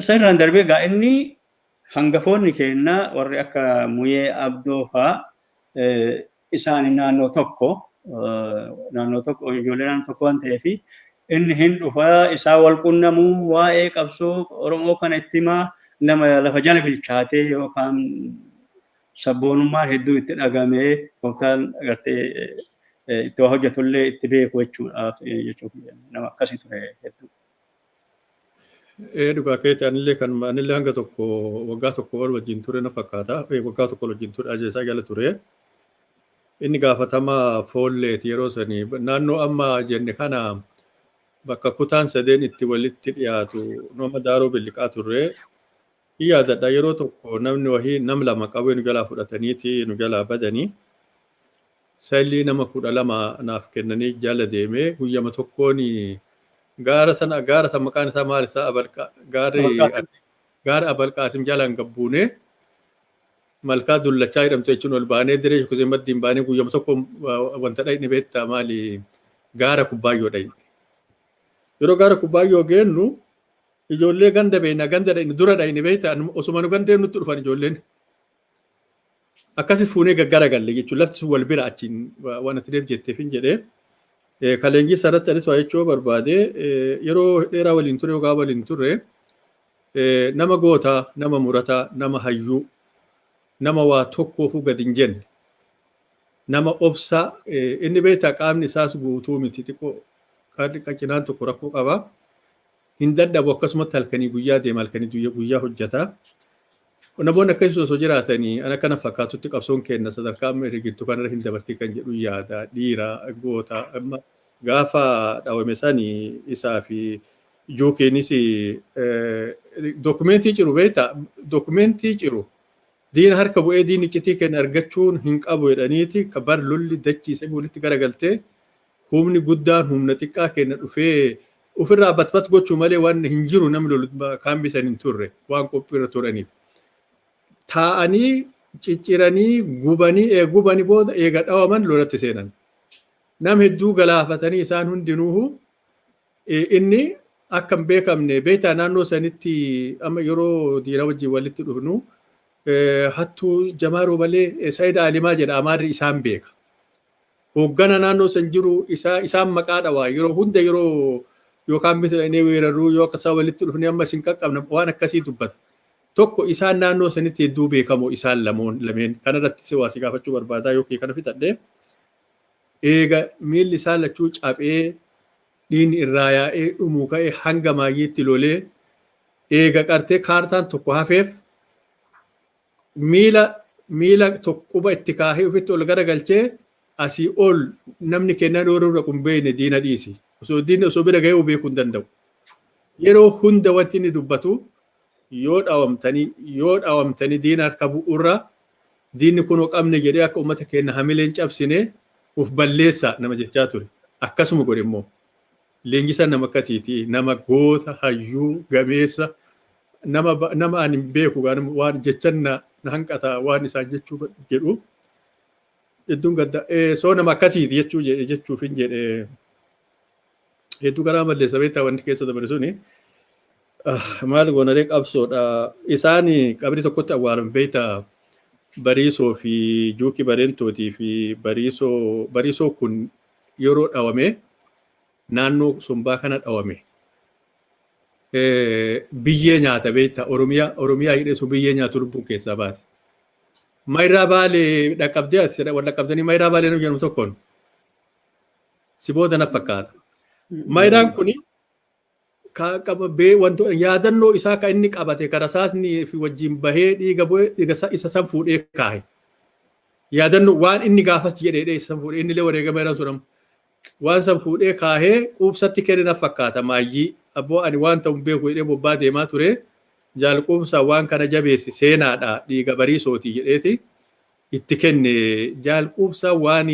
Sanirraan darbee egaa inni hangafoonni keenya warri akka Muyee Abdoo faa isaan naannoo tokko naannoo tokko ijoollee naannoo tokko waan ta'eef inni hin dhufa isaa wal qunnamuu waa'ee qabsoo Oromoo kana itti himaa nama lafa jala bilchaatee yookaan sabboonummaan hedduu itti dhagamee tooftaan agartee itti waa hojjetullee itti beeku jechuudhaaf jechuuf nama akkasii ture hedduu. Ee dhugaa keeti anillee kan anillee hanga tokko waggaa tokko ol wajjin ture na fakkaata Ee, waggaa tokko ol wajjin ture ajeesaa jala ture inni gaafatama foolleeti yeroo sani naannoo amma jenne kana bakka kutaan sadeen itti walitti dhiyaatu nama daaroo billiqaa turre hin yaadadha yeroo tokko namni wahii nam lama qabee nu jalaa fudhataniiti nu jalaa badanii Sailii nama kudha lama naaf kennanii jala deeme guyyama tokkoon gaara sana gaara san maqaan isaa maal isaa abalqa gaarri gaara abalqaasim jalaan gabbuune malkaa dullachaa jedhamtu jechuun ol baanee diree shukuzee maddiin baanee guyyama tokko wanta dhaqni beektaa maali gaara kubbaayyoo dhaqne yeroo gaara kubbaayyoo geennu ijoollee ganda beekna ganda dhaqni dura dhaqni beektaa osuma nu gandeen nutti dhufan ijoolleen Akkasi fuunee gaggara galle jechuun lafti sun wal bira achiin waan ati deeb jetteef hin jedhee. Kan leenjisaa irratti anis waa jechuu barbaade yeroo dheeraa waliin ture yogaa waliin ture nama gootaa nama murataa nama hayyuu nama waa tokkoofuu gad hin jenne nama obsaa inni beektaa qaamni isaas guutuu miti xiqqoo qaamni qacinaan tokko rakkoo qaba. Hin dadhabu akkasumatti halkanii guyyaa deema halkanii guyya- guyyaa hojjeta. Qonna boonni akkasii osoo jiraatanii ana kana fakkaatutti qabsoon keenna sadarkaa amma irra jirtu kanarra hin dabartii kan jedhu yaada dhiira goota amma gaafa dhawame sani isaa fi jookiinis dookumentii ciru beekta dookumentii ciru diina harka bu'ee diinni iccitii keenya argachuun hin qabu jedhaniiti kabar lolli dachiise walitti garagaltee Humni guddaan humna xiqqaa keenna dhufee uf irraa bat bat gochuu malee waan hin jiru namni lolu kaambii san hin turre waan qophii irra turaniif. Taa'anii cicciranii gubanii eega gubanii booda eega dhawaman lolatti seenan. Nam hedduu galaafatanii isaan hundinuuhu inni akka hin beekamne beektaa naannoo sanitti amma yeroo diina wajjin walitti dhufnu hattuu jamaa roobalee saayida alimaa jedha amaarri isaan beeka. Hooggana naannoo san jiru isaa isaan maqaa dhawaa yeroo hunda yeroo yookaan miti dhaqnee weerarruu yoo akka isaa walitti dhufnee amma isin qaqqabna waan akkasii dubbata. Tokko isaan naannoo sanitti hedduu beekamoo isaan lamoon lameen kanarratti si waa si gaafachuu barbaadaa yookiin kana fixadhee eega miilli isaa lachuu caphee dhiinni irraa yaa'ee dhumuu ka'ee hanga maayyiitti lolee eega qartee kaartaan tokko hafeef miila miila tokko quba itti kaahee ofitti ol garagalchee asii ol namni kennaa dhooruu dhaqu hin beekne diina dhiisi. Osoo diinni osoo bira gahee beekuu hin danda'u. Yeroo hunda wanti inni dubbatu yoo dhawamtanii yoo dhawamtanii diina harka bu'uurra diinni kunoo qabne jedhee akka uummata keenya hamileen cabsine of balleessaa nama jechaa ture. Akkasuma godhe immoo. Leenjisaan nama akkasiiti. Nama goota, hayyuu, gameessa, nama ba- nama ani hin beeku gaana waan jechan na na hanqata waan isaan jechuu ba- jedhu. Hedduun gadda eh, soo nama akkasiiti jechuu jedhe jechuuf hin jedhe. Hedduu garaa balleessa beektaa wanti keessa dabare suni. Ah, Maal goonaree qabsoodha. Isaan qabrii tokkotti awwaalan beektaa. Bariisoo fi Juuki Bareentootii fi Bariisoo Bariisoo kun yeroo dhawame naannoo sombaa kana dhawame biyyee nyaata beekta oromiyaa oromiyaa hidhee sun biyyee nyaatu lubbuun keessaa baate. Mayraa baalee dhaqqabdee as wal dhaqqabdanii mayraa baalee nama jedhamu tokkoon si booda na fakkaata. Mayraan kuni ka qabee wanto yaadannoo isaa ka inni qabate ka rasaasni fi wajjin bahee dhiiga bu'e dhiiga sa- isa san fuudhee kaahe. Yaadannoo waan inni gaafas jedheedhe isa san fuudhee inni illee wareegama irra sun amma. Waan san fuudhee kaahee quubsatti kenne na fakkaata maayyii. Abboo ani waan ta'u hin beeku jedhee bobbaa deemaa ture. Jaal quubsaa waan kana jabeessi seenaadha dhiiga bariisooti jedheeti. itti kenne jaal quubsaa waan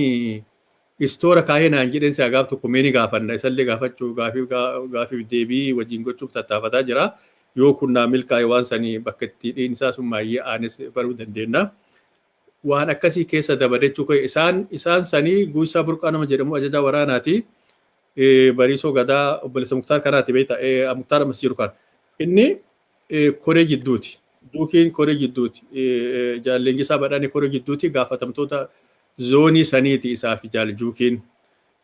istoora kaayee naan jedheen si'a gaaf tokko mee ni gaafadha isallee gaafachuu gaafiif gaafiif deebii wajjin gochuuf tattaafataa jira yoo kun naa milkaa'e waan sani bakka itti dhiinsaa sun maayyee aanes baruu dandeenna waan akkasii keessa dabadachuu kee isaan isaan sanii guusaa burqaa nama jedhamu ajajaa waraanaati bariisoo gadaa obboleessa muktaar kanaati beekta muktaar ammas jiru kan inni koree jidduuti. Duukiin koree jidduuti. Jaal Leenjisaa Badhaanee koree jidduuti gaafatamtoota zoonii saniiti isaa fi jaal Juukiin.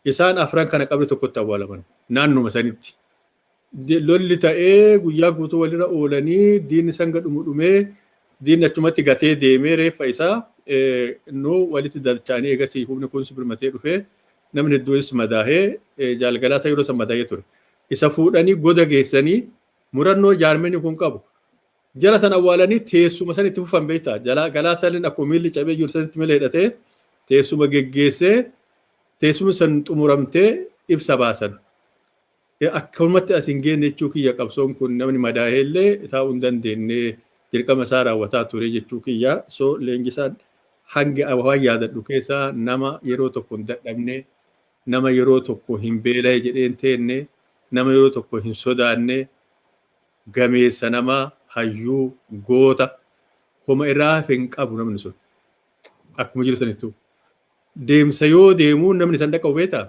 Isaan afran kana qabri tokkotti awwaalaman naannuma sanitti. Lolli ta'ee guyyaa guutuu walirra oolanii diinni sanga dhumu dhumee diinni achumatti gatee deemee reeffa isaa nu walitti dalchaanii eegasii humni kunis birmatee dhufee namni hedduunis madaahee jaal Galaasaa yeroo san madaahee ture. Isa fuudhanii goda geessanii Murannoo jaarmiyni kun qabu. Jara san awwaalanii teessuma san itti fufan beektaa. Galaa saniin akkuma miilli cabee jiru sanitti mila hidhatee teessuma geggeessee teessumni san xumuramtee ibsa baasan. Akkamatti as hin geenne jechuu kiyya qabsoon kun namni madaa'ee illee taa'uu hin dandeenye dirqama isaa raawwataa ture jechuu kiyya. So leenjisaan hanga waan yaadadhu keessaa nama yeroo tokko hin dadhabne Nama yeroo tokko hin beelahe jedhee hin teenne, nama yeroo tokko hin sodaanne, gameessa nama, hayyuu, goota, homa irraa hafe hin qabu namni sun. Akkuma jiru sanittu. Deemsa yoo deemu namni san dhaqabu beektaa?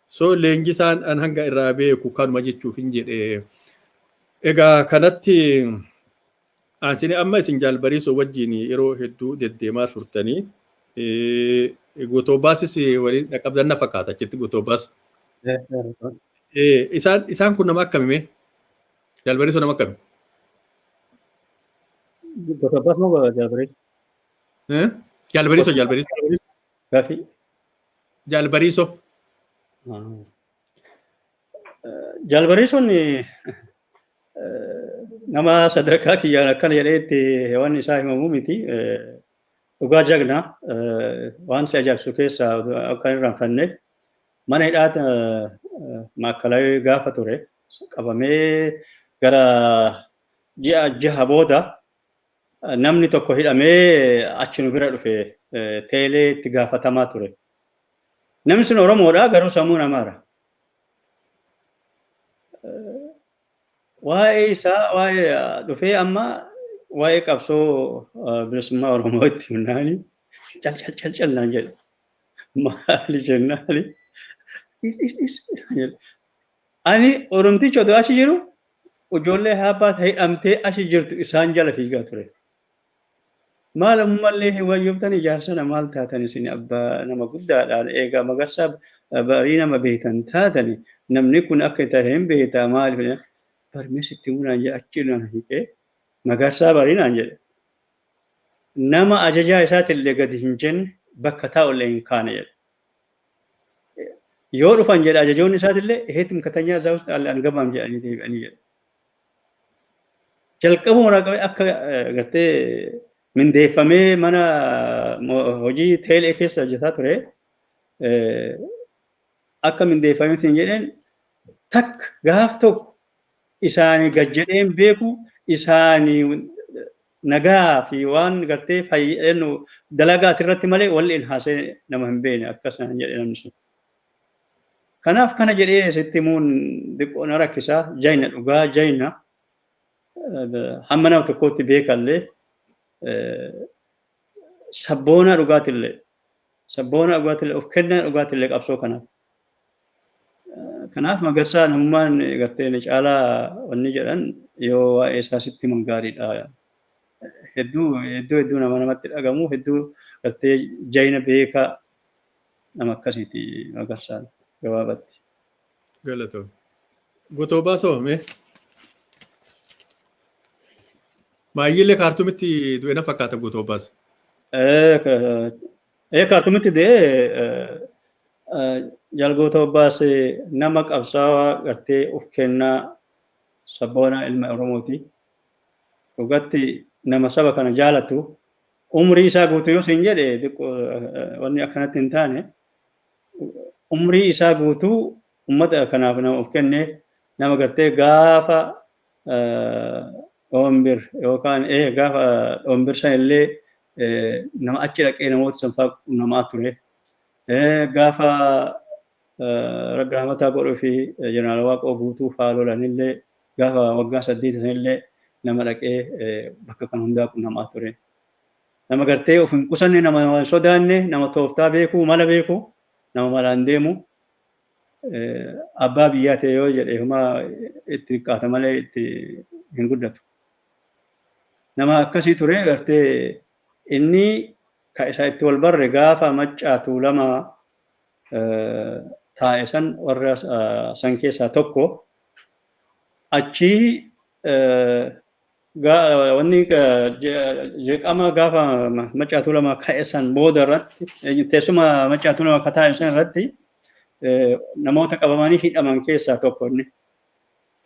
So leenjisaan an hanga irraa beeku kanuma jechuuf hin jedhe. Egaa kanatti Isin amma isin jaal bariisoo wajjin yeroo hedduu deddeemaa turtanii gotoobaasis waliin dhaqqabdan na fakkaata achitti gotoobaas. Isaan isaan kun nama akkami mee? Jaal bariisoo nama akkami? Gotoobas moo jaal bariisoo? Jaal bariisoo jaal bariisoo. Gaafii. Jaal bariisoo. Jaalbareessoon nama sadarkaa kiyyaan akkana jedhee itti waan isaa himamu miti. Dhugaa jagnaa waan si ajaa'ibsu keessaa akka hin raanfanne mana hidhaata maakkalawee gaafa ture qabamee gara ji'a jaha booda namni tokko hidhamee achi nu bira dhufe teelee itti gaafatamaa ture Namni sun Oromoodha garuu sammuun Amaara. Waa'ee isaa waa'ee dhufee amma waa'ee qabsoo bilisummaa Oromoo itti himnaani cal cal cal cal naan jedha. Maali jennaani? Ani Oromtichi otoo achi jiru ijoollee haabbaa hidhamtee achi jirtu isaan jala fiigaa ture. Maal ammallee hin wayyooftanii jaarsana maal taatan isin abba nama guddaadha eega magarsaa barii nama beeytan taatani namni kun akka itti ari'een beeyta maaliif jennaan bari mee sitti himuu naan jedhe achi na hiiqee magarsaa barii naan jedhe nama ajajaa isaatillee gadi hin jenne bakka taa'ullee hin kaane jedhe yoo dhufan jedhe ajajoonni isaatillee heetim katanyaa isaa wusti alle angamaam jedhanii deebi'anii jedhe jalqabuma irraa qabee akka gartee mindeeffamee mana hojii teelee keessa hojjetaa ture akka mindeeffamee siin jedheen takka gaaf tokko isaanii gad jedheen beeku isaanii nagaa fi waan gartee fayyadamnu dalagaa irratti malee walli hin haasee nama hin beekne akkasumas jedhe namni sun. Kanaaf kana jedhee sitti himuun diqqoo na rakkisaa jayna dhugaa jayna hamma nama tokkootti beekallee sabboonaa dhugaatillee sabboonaa dhugaatillee of kennaa dhugaatillee qabsoo kanaaf. Kanaaf magarsaa namummaan gartee ni caalaa wanni jedhan yoo waa'ee isaa sitti himan gaariidha. Hedduu hedduu hedduu nama namatti dhagamu hedduu gartee jayna beekaa Nama akkasiiti Magarsaan gabaabatti. Galatoomi. Gutoo baasoo mee? Maayyiilee kaartumitti du'e na fakkaata gutoo baasa. Ee kaartumitti du'e jalgoota obbaase nama qabsaawaa gartee of kennaa sabboonaa ilma Oromooti. Dhugatti nama saba kana jaalatu Umrii isaa guutuu yoo siin jedhe xiqqoo wanni akkanatti hin taane umrii isaa guutuu ummata kanaaf nama of kenne nama gartee gaafa dhoombir yookaan ee gaafa dhoombir san illee nama achi dhaqee namoota san fa'aa namaa ture gaafa raggaamataa godhuu fi jeneraal waaqoo guutuu fa'aa lolan illee Gaafa waggaa saddeeti sanillee nama dhaqee bakka kan hundaa qunnamaa ture. Nama gartee of hin qusanne, nama nama hin sodaanne, nama tooftaa beeku, mala beeku, nama malaan deemu. Abbaa biyyaa ta'e yoo jedhe homa itti xiqqaata malee itti hin guddatu. Nama akkasii ture gartee inni ka isa itti wal barre gaafa maccaa tuulama taa'e san warra san keessaa tokko achii wanni jeqama gaafa macaatuu lama ka'essan booda irratti teessuma macaatuu lama akka taa'essan irratti namoota qabamanii hidhaman keessaa tokko inni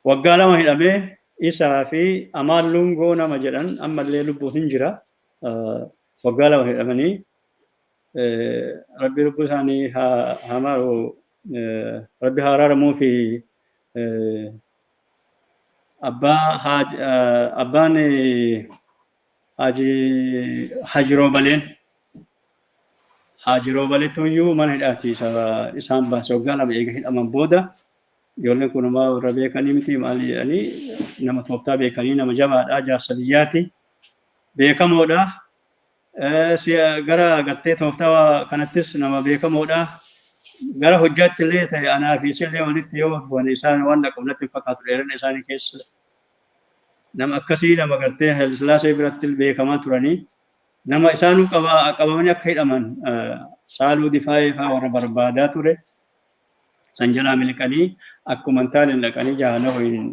waggaa lama hidhamee isaa fi amaan lungoo nama jedhan ammallee lubbuun hin jira waggaa lama hidhamanii rabbi lubbuu isaanii haa maaru Rabbi haa araaramuu fi abbaa haaj abbaan haaji haaji roobaleen haaji roobaletu iyyuu mana hidhaati isa isaan baase waggaa lama eega hidhaman booda ijoolleen kun homaa warra beekanii miti maali jedhanii nama tooftaa beekanii nama jabaadha jaarsa biyyaati beekamoodha Gara gartee tooftaa kanattis nama beekamoodha. Gara hojjaatti illee ta'e anaa fi isillee walitti yoo bu'an isaan waan dhaqabu natti hin fakkaatu dheerina isaanii keessa. Nama akkasii nama gartee Haile Sillaasee biratti beekamaa turanii nama isaanuu qabamanii akka hidhaman saaluu difaayee fa'aa warra barbaadaa ture. San jalaa miliqanii akkuma hin taane dhaqanii jahannama waliin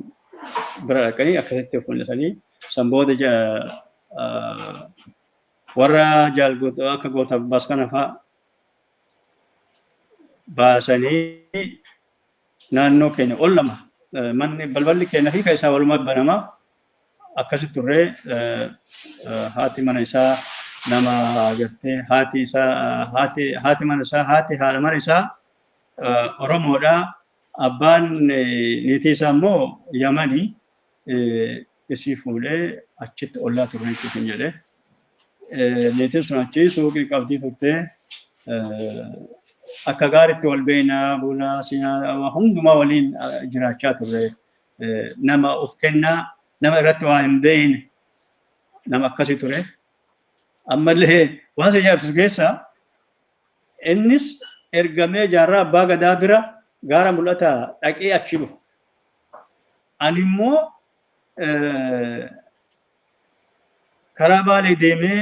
bira dhaqanii akkasitti of mul'isanii san booda warra jaal akka goota abbaas kana fa'a baasanii naannoo keenya ol lama manni balballi keenya fi keessaa walumaa banamaa akkasi turre haati mana isaa nama gartee haati isaa haati haati mana isaa haati haadha mana isaa Oromoodha abbaan niitii isaa immoo Yamani isii fuudhee achitti ollaa turre jechuuf hin jedhe niitiin sun achi suuqii qabdii turte akka gaaritti wal beekna buna siinaa hundumaa waliin jiraachaa turre nama of kennaa nama irratti waa hin beekne nama akkasii ture. Ammallee waan isa ajaa'ibsiisu keessaa innis ergamee jaarraa abbaa gadaa bira gaara mul'ataa dhaqee achi dhufu. Ani immoo karaa baalee deemee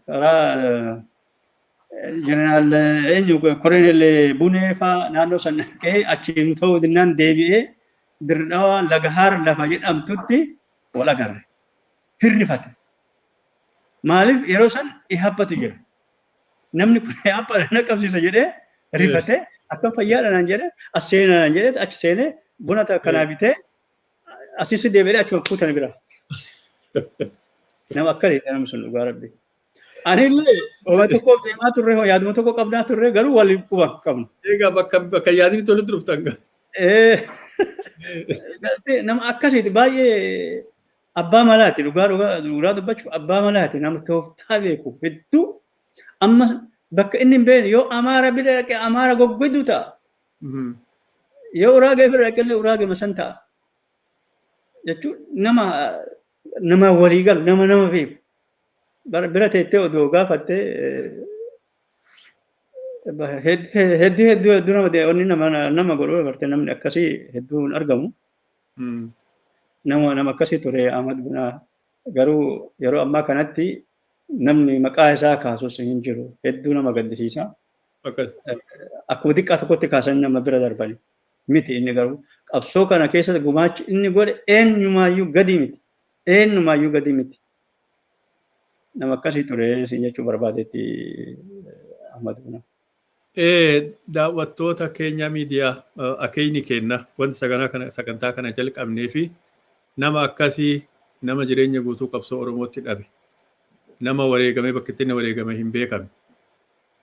karaa Jeneraal eenyu Kolonel Bunee fa'aa naannoo san dhaqee achiin ta'uu dinnaan deebi'ee dirdawa lagahaar lafa jedhamtutti wal agarre. Hirrifate. Maaliif yeroo san ihabbatu jira. Namni kun ihabba na qabsiisa jedhee rifate akkam fayyaadha naan jedhe as seenaa naan jedhe achi seenee buna akkanaa bitee asiis deebi'ee achuma fuutana bira. Nama akkana jedhe namni sun dhugaa rabbi. Anillee waa tokkoof deemaa turre hoo yaaduma tokko qabnaa turre garuu waliin quba qabna. Egaa bakka bakka yaadni tolutti dhuftan gaa. Eh, galtee nama akkasiiti baay'ee abbaa malaati dhugaa dhugaa dhugaa dubbachuuf abbaa malaati nama tooftaa beeku hedduu amma bakka inni hin beekne yoo amaara bira dhaqe amaara goggodu ta'a yoo uraagee bira dhaqe illee uraagee masan ta'a jechuun nama nama walii galu nama nama beeku Bara- bira teettee odoo gaafattee eh, ba- hed- he- hedduu hedduu hedduu nama de- onni nama nama godhuu dabartee namni akkasii hedduu hin argamu Mm. nama nama akkasii ture Ahmad Bunaa garuu yeroo ammaa kanatti namni maqaa isaa kaasus hin jiru hedduu nama gaddisiisa Akkas. akkuma xiqqaa tokkotti kaasan nama bira darbani miti inni garuu qabsoo kana keessatti gumaachi inni godhe eenyumaayyuu gadii miti eenyumaayyuu gadii miti nama akkasii ture siin jechuu barbaadeetti Ahmad Bunaa. daawwattoota keenya miidiyaa akeenyi kenna wanti saganaa kana sagantaa kana jalqabnee fi nama akkasii nama jireenya guutuu qabsoo Oromootti dhabe nama wareegamee bakka itti inni wareegame hin beekamne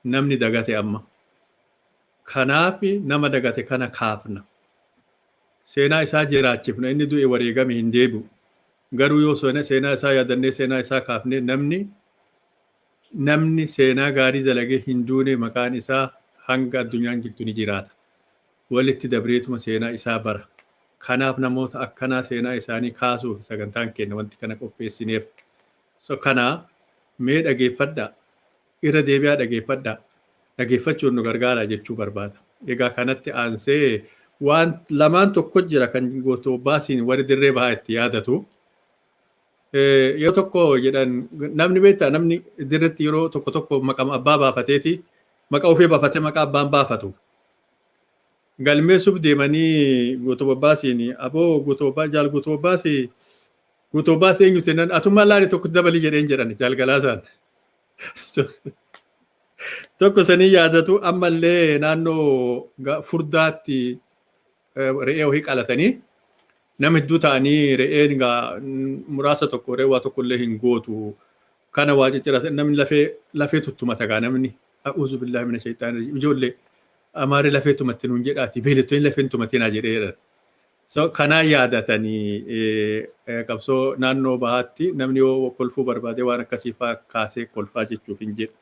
namni dagate amma Kanaaf nama dagate kana kaafna. Seenaa isaa jiraachifna. Inni du'e wareegame hin deebi'u. Garuu yoo seenaa isaa yaadannee seenaa isaa kaafne namni namni seenaa gaarii dalagee hin duune maqaan isaa hanga addunyaan jirtu ni jiraata. Walitti dabreetuma seenaa isaa bara. Kanaaf namoota akkanaa seenaa isaanii kaasuuf sagantaan keenya wanti kana qopheessineef. So kana mee dhageeffadhaa. Irra deebi'aa dhageeffadhaa. Dhageeffachuun nu gargaara jechuu barbaada. Egaa kanatti aansee waan lamaan tokko jira kan Gootoo Abbaasiin warri dirree bahaa itti yaadatu. Yoo tokko jedhan namni beektaa namni dirretti yeroo tokko tokko maqama abbaa baafateeti maqa ofii baafate maqaa abbaan baafatu. Galmeessuuf deemanii Gootoo Abbaasiin aboo Gootoo Abbaa jaal Gootoo Abbaasii Gootoo Abbaasii eenyu seenan atummaa laali tokko dabalii jedheen jedhan jaal Galaasaan. Tokko sanii yaadatu ammallee naannoo ga- furdaatti eh, re'ee wahii qalatanii nama hedduu ta'anii re'een gaa mm, muraasa tokko re'ee waa tokko illee hin gootu kana waa cicciratan namni lafee lafee tuttumata gaa namni a'uuzu billahi mina shayxaani rajiim ijoollee amaarri lafee tumatte nuun jedhaati beelettoonni lafeen tumatinaa jedhee jedhan So kanaa yaadatanii eh, qabsoo naannoo bahaatti namni yoo kolfuu barbaade waan akkasii faa kaasee kolfaa jechuuf hin jedhu.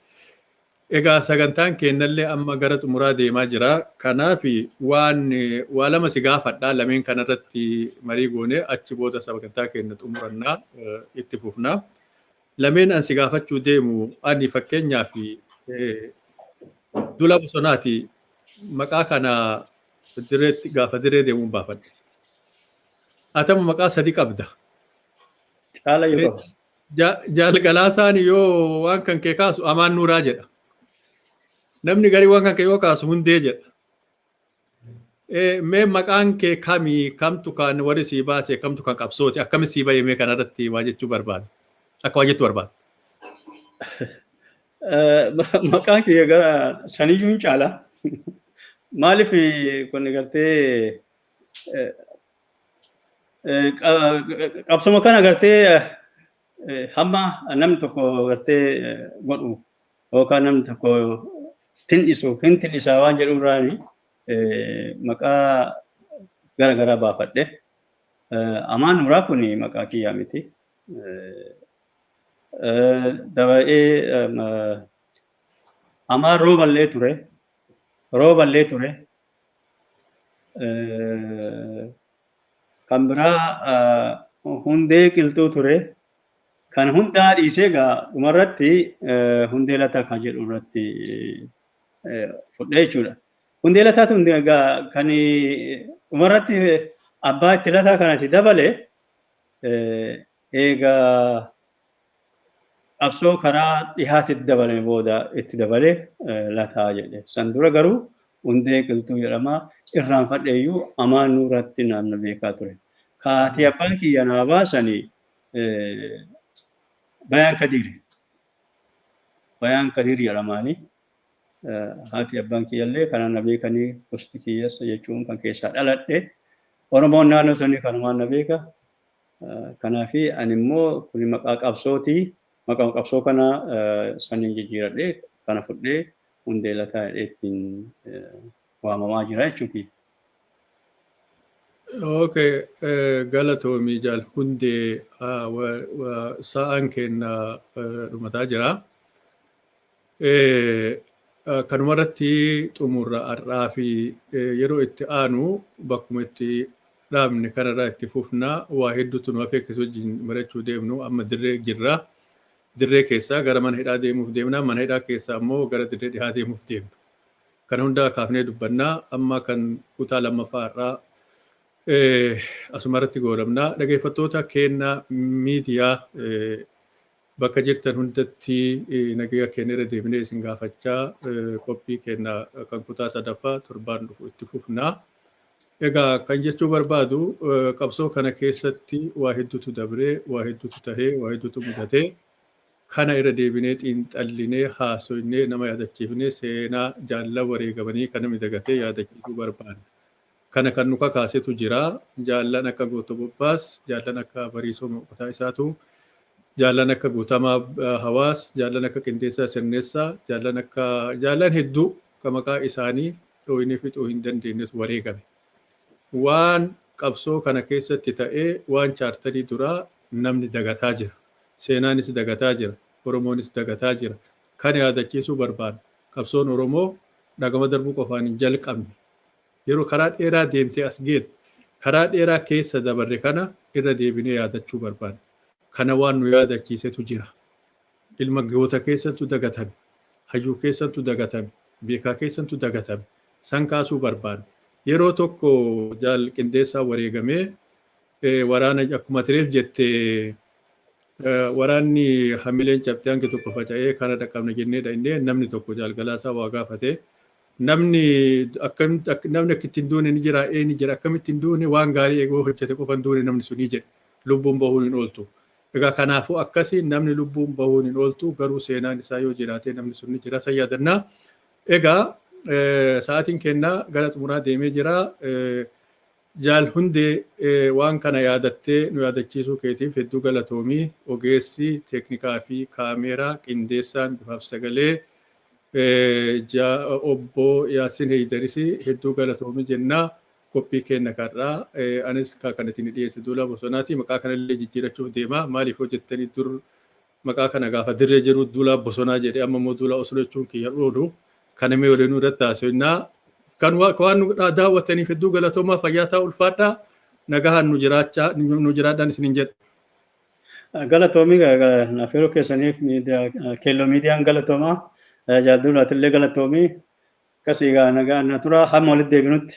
Egaa sagantaan keennallee amma gara xumuraa deemaa jira. Kanaaf waan eh, waa lama si gaafadha lameen kanarratti marii goone achi booda sagantaa keenna xumurannaa eh, itti fufna. Lameen an si gaafachuu deemu ani fakkeenyaaf eh, dula bosonaati maqaa kana direetti gaafa diree deemuun baafadhe. Atama maqaa sadi qabda. Caala yoo qabu. Ja- Jaalgalaasaan yoo waan kan kee kaasu amaan nuuraa jedha. Namni garii waan kan kee yoo kaasu hundee jedha. Eh, Mee maqaan kee kami kamtu kan warri sii baase kamtu kan qabsooti akkami sii bahee mee kanarratti waa jechuu barbaada. Akka waa jettu barbaada. Maqaan kiyya gara saniyyuu hin caala. Maaliif kun gartee qabsoma kana gartee hamma namni tokko gartee godhu yookaan namni tokko tin'isu hin tin'isaa waan jedhu irraani maqaa gara garaa baafadhe. Amaan Nuuraa kun maqaa kiyyaa miti. Daba'ee amaa rooballee ture. Rooballee ture. Kan biraa hundee qilxuu ture. Kan hundaa dhiisee egaa dhumarratti hundee lataa kan jedhu irratti fudhee jechuudha. Hundee lataa tun egaa kan dhumarratti abbaa itti lataa kanatti dabale Eega qabsoo karaa dhihaatitti dabalame booda itti dabale lataa jedhe. San dura garuu Hundee Qilxuu jedhama. Irraanfadheeyyuu amaan nurratti naanna beekaa ture. Ka haati abbaan kiyya naa baasani Bayaan Kadiiri. Bayaan Kadiir jedhamaani. haati abbaan kiyyallee kanaan na beekanii gosti kiyyas jechuun kan keessaa dhaladhe Oromoon naannoo sanii kanumaan na beeka. Kanaaf ani immoo kun maqaa qabsooti. Maqaa qabsoo kana saniin jijjiiradhee kana fudhee hundee lataa jedhee ittiin waamamaa jira jechuuti. Okay, galatoomi jaal hundee sa'aan keenya dhumataa jira. Kanuma irratti xumurra har'aa fi yeroo itti aanu bakkuma itti dhaabne kanarraa itti fufna waa hedduutu nu hafee keessa wajjin mari'achuu deemnu amma dirree jirra. Dirree keessaa gara mana hidhaa deemuuf deemna mana hidhaa keessaa immoo gara dirree dhihaa deemuuf deemna. Kana hundaa kaafnee dubbannaa amma kan kutaa lammaffaa har'aa asuma irratti goolabna. Dhageeffattoota keenya miidiyaa Bakka jirtan hundatti nagaya keenya irra deebinee isin gaafachaa qophii keenya kan kutaa sadaffaa torbaan dhufu itti fufna. Egaa kan jechuu barbaadu qabsoo kana keessatti waa hedduutu dabree, waa hedduutu tahee, waa hedduutu mudatee kana irra deebinee xiinxallinee haasoynee nama yaadachiifnee seenaa jaallan wareegamanii kana midagatee yaadachiisuu barbaanna. Kana kan nu kakaasetu jira. Jaallan akka Gooto Bobbaas, jaallan akka Bariisoo Mo'otaa Isaatu, jaallan akka Guutamaa Hawaas, jaallan akka Qindeessaa Sirneessaa, jaallan akka jaallan hedduu ka maqaa isaanii dhooynee fixuu hin dandeennetu wareegame. Waan qabsoo kana keessatti ta'e waan chaartarii duraa namni dagataa jira. Seenaanis dagataa jira. Oromoonis dagataa jira. Kana yaadachiisuu barbaanna. Qabsoon Oromoo dhagama darbuu qofaan hin jalqabne. Yeroo karaa dheeraa deemtee as geet, karaa dheeraa keessa dabarre kana irra deebinee yaadachuu barbaanna. Kana waan nu yaadachiisetu jira. Ilma goota keessantu dagatame, hayyuu keessantu dagatame, beekaa keessantu dagatame. San kaasuu barbaanna. Yeroo tokko Jaal Qindeessaan wareegamee waraana akkuma ati reef jette waraanni hamileen cabxee hangi tokko faca'ee kana dhaqqabna jennee dhaynee namni tokko Jaal Galaasaa waa gaafate. Namni akkamitti ak- namni akka ittiin duune ni jira ee ni jira akkamitti hin duune waan gaarii eeguu hojjete qofa hin duune namni sunii jedhe lubbuun bahuun hin ooltu. Egaa kanaafuu akkasii namni lubbuun bahuun hin ooltu garuu seenaan isaa yoo jiraate namni sun ni jira isa yaadannaa. Egaa eh, sa'aatiin kennaa gara xumuraa deemee jira. Eh, Jaal Hundee, waan kana yaadattee nu yaadachiisuu keetiif hedduu galatoomi. Ogeessi teeknikaa fi kaameeraa, qindeessaan bifaaf sagalee, Obbo Yaassin Heeydaris hedduu galatoomi jenna. Qophii keenya har'aa anis kan isin dhiyeesse Duulaa Bosonaati. Maqaa kanallee jijjiirachuuf deema. Maaliif yoo jettanii dur Maqaa kana gaafa dirree jedhu duulaa bosonaa jedhe amma immoo duulaa oslo jechuun kiyya dhuudu kana mee waliinuu irratti haasofnaa kan wa- waan nu dha- daawwattaniif hedduu galatoomaa fayyaa ta'aa ulfaadhaa nagahaan nu jiraachaa nu jiraadhaan isiniin jedha. Galatoomii affeeruu keessaniif miidiyaa keelloo miidiyaan galatoomaa jaalduun atillee galatoomii akkasii gaa nagaa na tura hamma walitti deebinutti